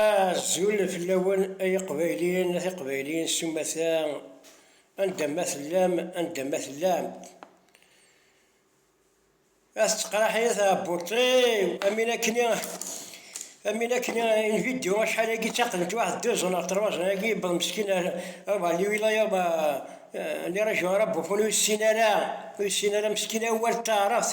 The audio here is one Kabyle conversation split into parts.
Azul fell-awen ay iqbayliyen a tiqbayliyin s umata anda ma tellam anda ma tellam. A tettqraḥ-iyi tɛebbuṭ-iw am win akken i am win akken i in vidéo acḥal-agi ttaqdent waḥed deux ans neɣ trois ans agi yewweḍ meskin ar ar Bali willa yewweḍ les régions arabophones ur yessin ara ur yessin ara meskin awal n taɛrabt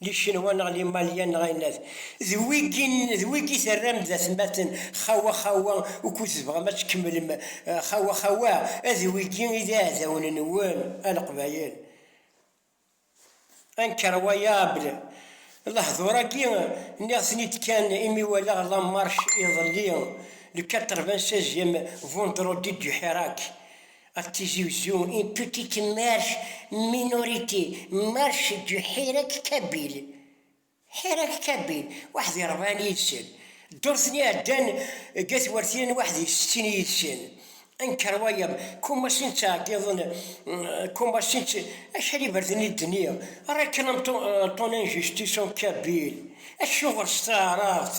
Licenwa neɣ Limalyan neɣ ayen ad d wigi d wigi terram d atmaten xawa xawa ukud tebɣam ad tkemmlem xawa xawa ad wigi i d iɛdawen nwen a Leqbayel anker wayable lehdur agi nniɣ ten id kan imi walaɣ la marche iḍelli le quatre-vingt-seizième vendredi du Hirak At Tizi Uzzu, une petite marche, minorité, marche du Hirak Kabil. Hirak Kabil, waḥed irebɛen yid-sen. Ddurt n iɛeddan deg At Wertiyen, waḥed i settin yid-sen. Anker wayeḍ, kumasin ttɛeggiḍen, kumasin tt... Acḥal iberdan i d-nniɣ, réclame ton injustice en kabyle, acuɣer s taɛrabt?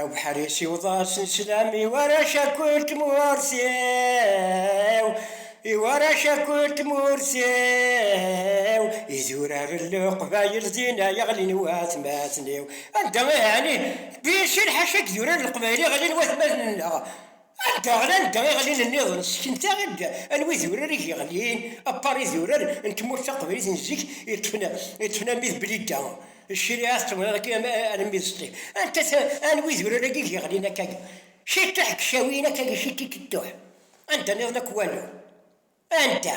Abuḥris iwweḍ-asen sslam i warrac akk n tmurt-iw, i warrac akk n tmurt-iw, i zuraren leqbayel din ay ɣlin watmaten-iw. Anda ay ɛni? Di sin ḥaca i idurar n leqbayel i ɣlin watmaten-nneɣ. Anda ara nedder iɣallen-nniḍen sseknet-aɣ-d anwa idurar i yeɣlin apar idurar n tmurt taqbaylit n zik yeṭṭfen am id Blida, cciriɛa tettawḍa dagi alamma d Sṭif. Anta-t anwa idurar-agi i yeɣlin akkagi? Ciṭuḥ deg Cawiyen akkagi Cititituḥ, anda-nniḍen akk walu. Anda?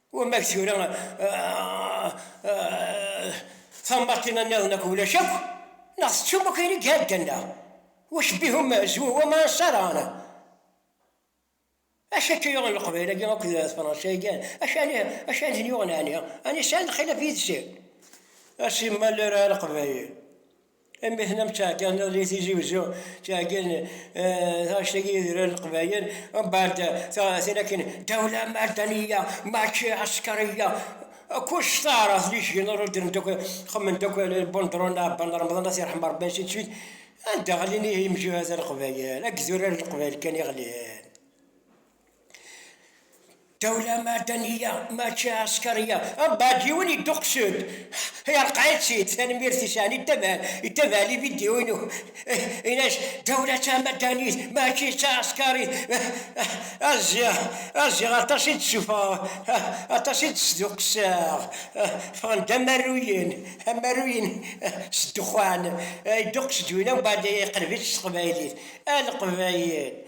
Wamma tura tambaṭina nniḍen akk ulac akk, neɣ tettum akk ayen i iɛeddan neɣ wac bihum zwu wama saraɣen. Acu akka yuɣen leqbayel-agi akk d tefransa-agi? Acu ani acu ani ten-yuɣen ani? Ani sɛan lxilaf yid-sen? A simmal ara leqbayel Imi ḥna ttɛeggiḍ di Tizi Uzzu, ttɛeggin taɣect-agi i d-rran Leqbayel, mbeɛd tin akken Dawla Mardaniya, mačči Ɛeskariya, kullec taɛrabt d icgen ur ddren-d akk, xemmen-d akk Bundrun Ɛebban Remḍan At Irḥem Rebbi ad s-ittfit, anda ɣlin ihi yemjuhad a Leqbayel, akked urar n Leqbayel kan i ɣlin. Dawla madaniya mačči ɛeskariya. Abad yiwen yedduqsen. Ay rqaɛit-tt-id, tanemmirt i sɛan yettabaɛ lividyu-inu. Ini-as, dawla d tamadanit mačči d taɛeskarit. Aziɣ, aziɣ aṭas i d-ssufɣeɣ, aṭas i d-sduqseɣ. Ffɣen-d amaruyen, amaruyen s ddexxan. Yedduqes-d win, umbeɛd iqleb-itt s teqbaylit. A leqbayel!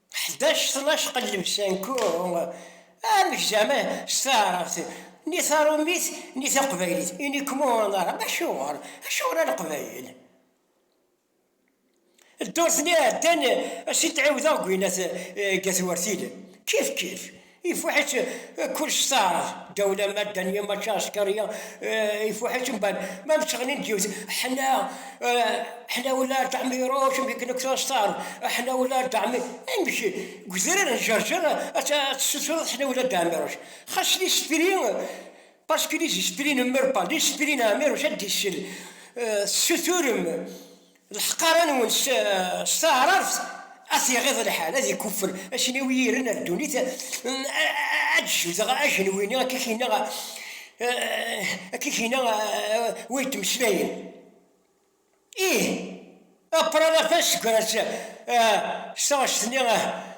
Ḥdac tnac qellem-san ku amek zama s taɛrabt ni tarumit ni taqbaylit ini kmu anaram acuɣer acuɣer a leqbayel ddurt ni iɛeddan a s-in-ttɛiwdeɣ deg winnat ga twertilin kif kif Ifuḥ-itt kullec s taɛrabt, ddaw ulamma ddan yam akka askariya, ifuḥ-itt mban ma mseɣnin-d yiwet, Ḥna, ḥna wella a Dda Ɛmi ruc mi k-nektuɣ s taɛrabt, ḥna wella a Dda Ɛmi, amek deg udrar n Ǧerǧer ad tessutreḍ ḥna wella a Dda Ɛmi ruc, xas listri, parce que listri n mrpa, listri n Ɛmi ruc ad d-isel, tessuturem. Lḥeqara-nwen s taɛrabt ad t-iɣiḍ lḥal, ad ikuffer acnawi yiren ar ddunit, ad d-jebdeɣ ajenwi-nni akka i k-yenna wa yettmeslayen, ih, a Pranapa, ssegra-tt s taɣect-nni.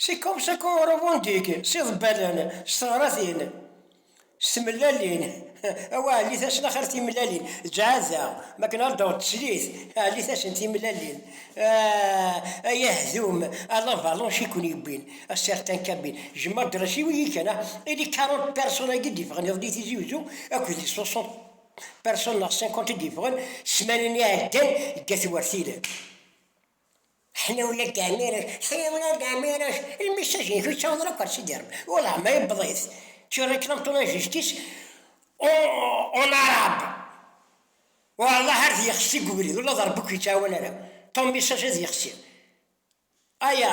Sekum sekum Rumundik, s iḍebbalen, s teɣratin, s tmellalin, awa ɛellit-asen axir timellalin, ǧɛada, mi akken ara d-taweḍ teslit, ɛellit-asen timellalin, ay ahdum, a la valanche i ken-yewwin, a certain cabine, jemma adras-iw i yi kan, i les quarante personnes-agi d-yeffɣen iḍelli Tizi Uzzu, akked les soixante personnes neɣ cinquante i d-yeffɣen ssmana-nni iɛeddan deg At Wertilen. Ḥniwna Gamireč, Ḥniwna Gamireč, lmissaj-ik ur ttaweḍ ara akk ar Sidi Rebbi, welleh ma yewweḍ-it, tu réclame ton injustice en arabe, wallah ar d-yexsi deg ubrid, ula d Rebbi ur k-yettɛawan ara, ton message ad yexsi, aya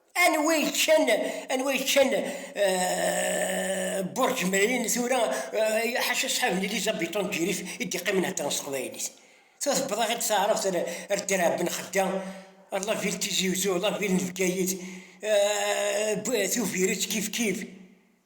Anwa yeččan anwa yeččan Burj Merlin tura ḥaca ṣṣḥab n Elizabetton Girif i d-iqqimen heddren s teqbaylit. Tura tewweḍ-aɣ-d taɛrabt ar Dderɛa Ben Xedda, ar la ville Tizi Uzzu, la ville n Bgayet, Tubiret kifkif.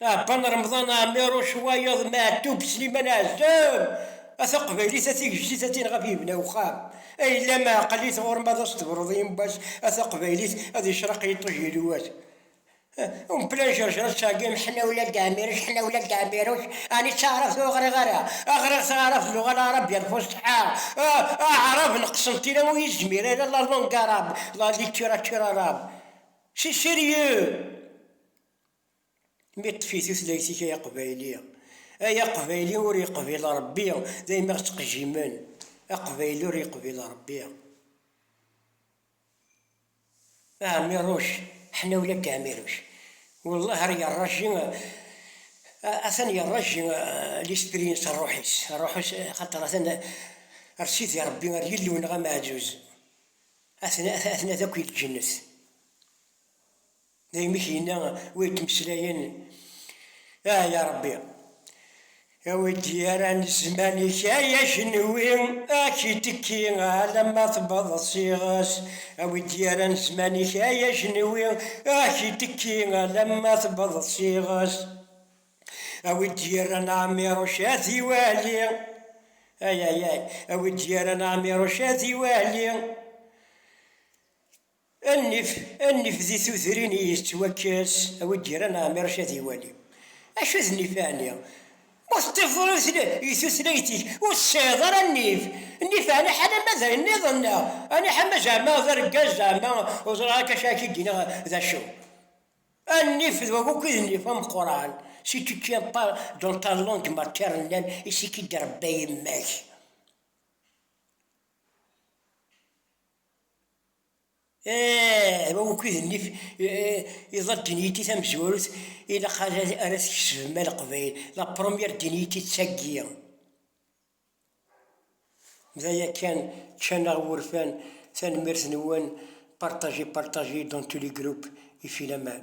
Aɛebban Remḍan Ɛmiruc wayeḍ Meɛtub Sliman Ɛezzam, a taqbaylit a tigejdit a tineɣ a yebna uxxam, a yellam ɛeqqel-it ɣur-m ad as-tebruḍ yemma-s a taqbaylit ad yecreq yiṭij yelwat um plan jerjer ad tɛeggim ḥna ula deg Ɛmiruc ḥna ula deg Ɛmiruc ɛni d taɛrabt ur ɣriɣ ara a ɣriɣ taɛrabt d luɣa laɛrabiya n lfusḥa a aɛrab n Qsentina ur yezmir ara la langue arabe la littérature arabe c'est sérieux Mi ṭṭef i tutlayt-ik ay aqbayli. Ay aqbayli ur yeqbil Rebbi, d ay mi ɣ-ttqejjimen. Aqbayli ur yeqbil Rebbi. A Ɛmiruc, ḥnawla deg Ɛmiruc. Wellah ar yerraji, atan yerraji l'esprit-ines, rruḥ-is, rruḥ-is, xaṭer atan ar Sidi Rebbi, ar Yillu-nneɣ ameɛzuz, a t-nadi akk i lǧennet. Daymi i k-yenna wi yettmeslayen, Ah ya Ṛebbi! Awi-d yaran zzman-ik ay ajenwi, ad k-itekki alamma tewweḍ s iɣes. Awi-d yaran zzman-ik ay ajenwi, ad k-itekki alamma tewweḍ s iɣes. Awi-d yaran ɛmiṛuc ad iwali, ayayay! Awi-d yaran ɛmiṛuc ad iwali. Annif, annif di tudrin i yettwakkes a wi d-yerran Ɛmiṛec ad iwali. Acu d nnif ɛni? Ma teṭṭifeḍ i tutlayt-ik ur tesɛiḍ ara nnif. Nnif ɛni ḥala ma d ayen nniḍen neɣ ɛni ḥama zeɛma d argaz zeɛma ur ẓriɣ akka acu ara k-id-iniɣ d acu. Annif d wakk i d nnif ameqqran, si tu tiens pas dans ta langue maternelle et si k-id-trebba yemma-k. Aɛa ukid nnif iḍa diniti tamezwarut ilaq ara tkesbem a leqbayel, la première diniti d tagi, d aya kan, ččan aɣ wurfan, tanemmirt nwen, partagez partagez dans tous les groupes, i filaman.